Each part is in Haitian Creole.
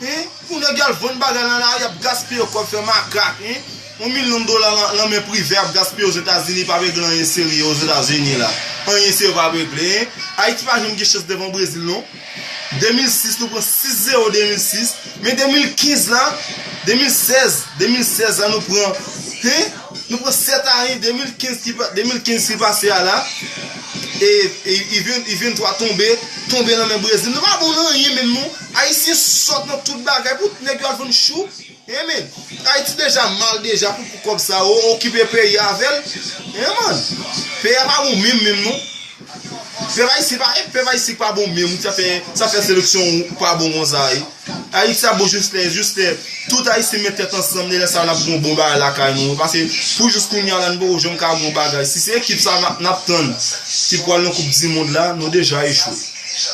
Hein pou neg yal vann bagay nan lari ap gaspiye kob fè makak hein yon milyon dola lan men privè ap gaspiye ozetazini pap regle anyen serye ozetazini la anyen serye pap regle hein ayiti pa janm gen chans devan brezil non 2006 nou pran 6 zero 2006 men 2015 la 2016 2016 la nou pran hein nou pran 7 a 1 2015 ki 2015 ki pase a la e i 23 tonbe tonbe lan men brezil nou pa bon nan anyen menm non. Ayisyen sòt nan tout bagay pou nèg yo al vann chou hein men ayiti deja mal deja pou pou kòb sa yo okipe peyi a avèl hein man peyi a pa bon menm menm non pèp ayisyen pa e pèp ayisyen ki pa bon menm sa fè sa fè seleksyon ou pa bon konsa e ayiti ap bon jis lè jis lè tout ayisyen met tèt ansanm lè sa nap gon bon bagay lakay nou paske pou jis kounya la nou poko janm ka gon bagay si se ekip sa nap tann ki pwal nan koup di mond la nou deja echwe.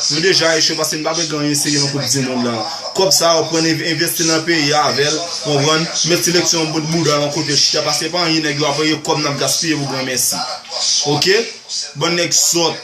Nou deja echwe paske nou pa vle gen anyen serye nan koup dimond la. Kòb sa yo pran envesti nan peyi a avèl, konprann, met seleksyon an bout bouda yon kote chita paske pa anyen nèg yo ap reye kòb nap gaspiye pou gran mèsi. Ok? Bann nèg sòt.